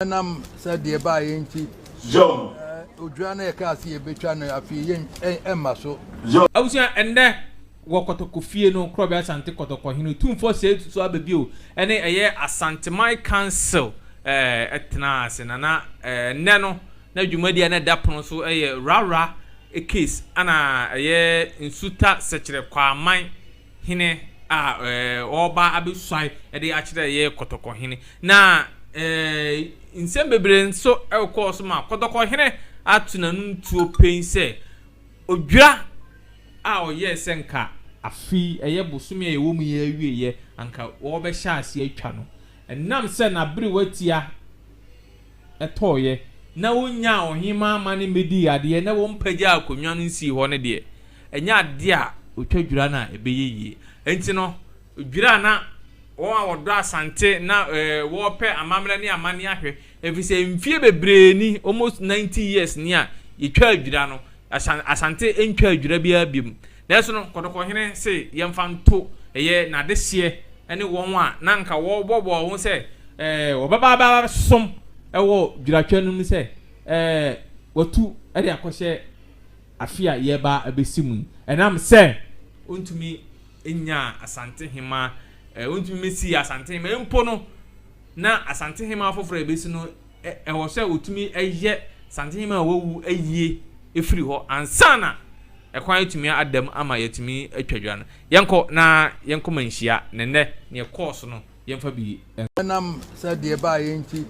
Ɛnam sɛ deɛ ɛbaeɛ nti, odwira no a yɛkaa sɛ yɛbɛtwa no afei yɛ ɛmma so. Abusua, ɛnnɛ wɔ Kɔtɔkɔ fie no, Korɔbea Asante Kɔtɔkɔ hene otumfoɔ sɛɛ tutu aba bio ne ɛyɛ Asanteman Council tenaa ase na na ɛnnɛ no na dwumadie a na ɛda pono so yɛ Rawra case ɛna ɛyɛ Nsuta Sɛkyerɛ Kwaaman Hene a ɔreba abɛsuan de akyerɛ yɛn Kɔtɔkɔhene. Na nsɛm bebree nso kɔɔ so ma Kɔtɔkɔhene ato n'anom tuo pɛn sɛ odwira a ɔyɛɛ sɛ anka afe yi, ɛyɛ bosome a yɛwɔ mu yi awieeɛ, anka wɔrebɛhyɛ aseɛ atwa no. Ɛnam sɛ n'aberewa tia. tɔeɛ, na wɔnyaa ɔhemmaa ma no mmɛdii adeɛ, na wɔmpagyaa akonnwa no nsii hɔ no deɛ, ɛnyɛ adeɛ a ɔtwa dwira no a ɛbɛyɛ yie. Enti no, dwira a na wɔn a wɔdɔ Asante na wɔrepɛ amammerɛ ne amanneɛ ahwɛ, ɛfiri sɛ mfeɛ bebree ni, almost ninety years ni a yɛtwaa dwira no, Asante ntwaa dwira biara bio. Nanso no, Kɔtɔkɔhene se yɛmfa nto ɛyɛ n'adehyeɛ ne wɔn a na anka wɔbɔbɔɔ ho sɛ wɔbɛba abɛsom wɔ dwiratwa no mu sɛ wɔatu de akɔhyɛ afe a yɛreba abɛsi mu yi ɛnam sɛ ɔntumi nnyaa Asantehemaa, ɔntumi mmɛsii Asantehemaa mpo no na Asantehemaa foforɔ a ɛbɛsi no Ɛwɔ sɛ wotumi yɛ santenhema a wawu awie firi hɔ ansa na ɛkwan atumi ada mu ama yɛatumi atwa dwa no. Yɛnkɔ na yɛnkɔma nhyia, na nnɛ nea ɛkɔɔ so no, yɛmfa bi nto. Ɛnam sɛdeɛ ɛbaeɛ nti,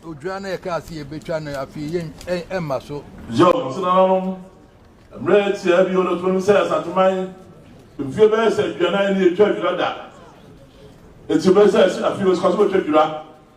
odwira no a yɛkaa sɛ yɛbɛtwa no afei yi remma so. Yom nso nananom, mmerɛ tiaa bi wɔ no, ɔtumi nim sɛ Asanteman mfeɛ bɛyɛ sɛ aduanan ni yɛtwaa dwira da. Enti ɛbɛyɛ sɛ afei yɛbɛsika so bɛtwa dwira.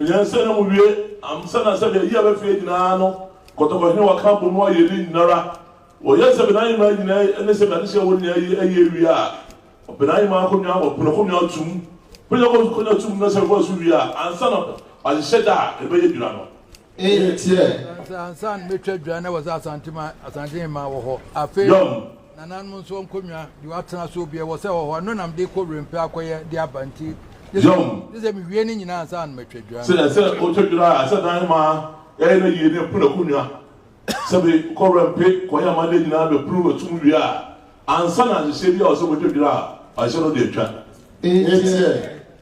Nyansa na muwie amsa na sɛdeɛ yea bɛfeɛ nyinaa no kɔtɔkɔ hene wɔka bɔ mu ayɛ ne nyinara wɔyɛ sɛ benae mmaa nyinaa yi ne sɛ beane hyɛ wɔ nyinaa yi ɛyɛ awie a benae mmaa kɔnwa wɔ pono kɔnwa tum kɔnwa kɔ kɔnwa tum na sɛ wɔasu wie a ansa na wahyehyɛ da a ɛbɛyɛ dwira no ɛyɛ tiɛ. Ansa ansa na mɛtwa dwira na wɔ sɛ asante ma asante mmaa wɔ hɔ afei. Yɔm Nananom nso nkonnwa de wɔatena so bi wɔ sɛ hɔ hɔ a, ɛno na mede kɔ wuram pɛ akɔyɛ de aba nti, gye sɛ gye sɛ miwie ne nyinaa ansa na matwa dwira no. Sɛ ɛsɛ sɛ wotwa dwira a, ɛsɛ dan ma ɛyɛ no yiye na ɛpono akonnwa. Sɛ bi kɔ wuram pe kɔyɛ ama ne nyinaa bɛpuru atum wie a, ansa na nhyehyɛe bi a ɛwɔ sɛ wotwa dwira a, ɔhyɛ no de atwa. Enti ɛ?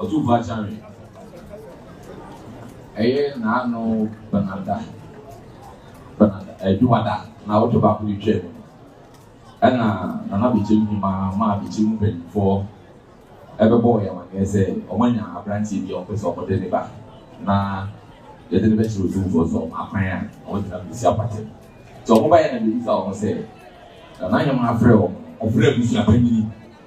Ɔtumfo Akyare, ɛyɛ n'ano banada banada adwumada na ɔtɔ baako de twaa mu. Ɛna Nana Bekyem Hima maa Bekyem mpanyinfoɔ ɛbɛbɔɔ yɛn amaneɛ sɛ wɔn anya aberanteɛ bi a wɔpɛ sɛ wɔde ne ba na yɛde ne bɛkyerɛ otumfoɔ sɛ wɔn akwan a wɔde nam besi apatem. Nti wɔn ba yɛ na bebisa wɔn sɛ Nana Hima afrɛ wɔn, ɔfrɛ abusua panyini.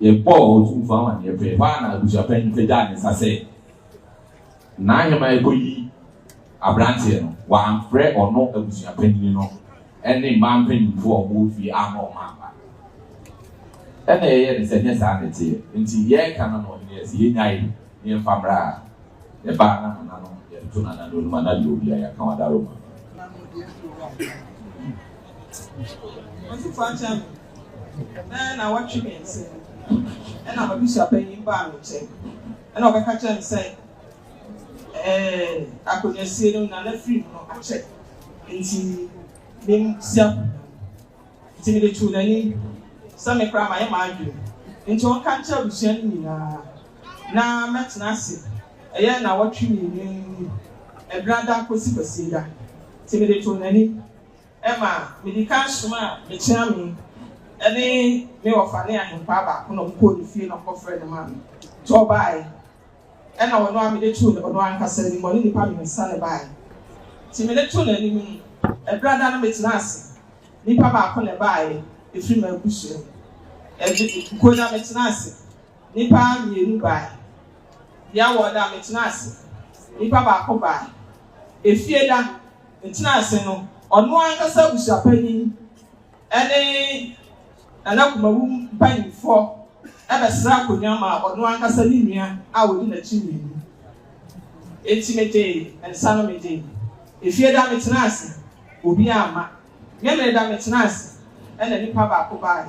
Yɛbɔɔ Otumfoɔ amanneɛ pɛɛ hɔ ara na abusuapanyin pagyaa ne nsa sɛ n'aheman rekoyi aberanteɛ no. Wɔamfrɛ ɔno abusuapanyin no ne mmaa mpanyimfo a wɔwɔ fie amma wɔamma. Ɛnna yɛyɛɛ no sɛ ɛnyɛ saa na ɛteɛ. Enti yɛreka no na ɔhene yɛɛ sɛ yennyae na yɛmfa mmra a, yɛbaa na nananom, yɛtoto nananom anim a na deɛ ɔwui a yɛaka w'adaroma. Bɛyɛ naawɔtwe mmiɛnsa ni ɛna m'abusuapanyin baa me nkyɛn ɛna ɔbɛka kyerɛɛ me sɛ ɛɛ akonnwasie no na n'afiri mu no akyɛ nti mem si akonnwa no nti mede too n'ani sɛ me koraa mayɛ m'adwene nti ɔnka nkyerɛ abusua no nyinaa na mɛtena ase ɛyɛ naawɔtwe mmienu ni ɛberɛ ada kɔsi kwasieda nti mede too n'ani ma mede kan somaa me kyeame ne me wɔfa ne ahempaa baako na wɔkɔɔ ne fie na wɔkɔfrɛɛ no maa me. Nti ɔbaae, ɛnna ɔno ara mede too ɔno ankasa anim, ɔne nnipa mmiɛnsa na ɛbaae. Nti mede too n'anim no, ɛberɛ a na metenaa ase nnipa baako na ɛbaae, ɛfiri m'abusua mu. Ɛde, kuo no a metenaa ase nnipa mmienu baae. Bia wɔɔda a metenaa ase nnipa baako baae. Efie da. tena ase no, ɔno ankasa abusuapanyin ne Nana Kumawu mpanyimfoɔ bɛsrɛ akonnwa maa ɔno ankasa ne nua a ɔdi n'akyi mmienu. Enti megyee nsa no megyee. Efie da metenaa ase, obiara amma. Memeneda metenaa ase, ɛnna nipa baako baeɛ.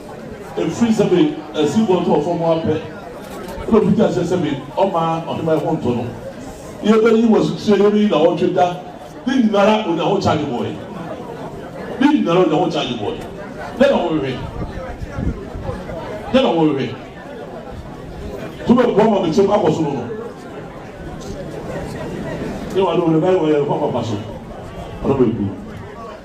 Ɛfiri sɛ me asiboɔ tɔɔ fam ara pɛ na ɔfiti aseɛ sɛ me ɔma ɔheman ho ntɔ no, yɛ bɛ yi wɔ asukyerɛ yɛ me yi na ɔtwe da ne nyinara onya ho charge bɔɔɛ ne nyinara onya ho charge bɔɔɛ dɛ na wo hwehwɛ dɛ na wo hwehwɛ to bɛ boa ma me kyɛm akɔ so no no yɛ wa no hwɛ bɛ yɛ wɔ yɛ fa papa so ɔno bɛ gu.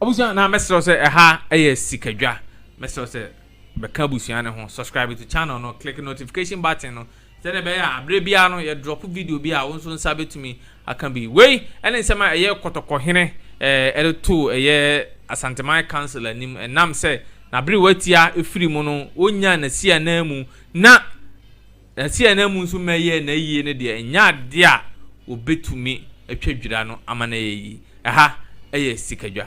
Abusua na mɛsrɛ sɛ ɛha ɛyɛ sikadwa mɛsrɛ sɛ bɛka abusua no ho subscribe to channel no click notification button no. Sɛnea ɛbɛyɛ a bere biara no yɛ drop video bi a wo nso nsa betumi aka bi. Wei ne nsɛm a ɛyɛ Kɔtɔkɔhene de too ɛyɛ Asanteman Council anim ɛnam sɛ n'aberewatia firi mu no ɔnyaa n'asi ananmu na n'asi ananmu nso ma ɛyɛɛ n'ayie no deɛ ɛnyɛ adeɛ a wɔbetumi atwa dwira no ama no ayɛ yie. Ɛha yɛ sikadwa.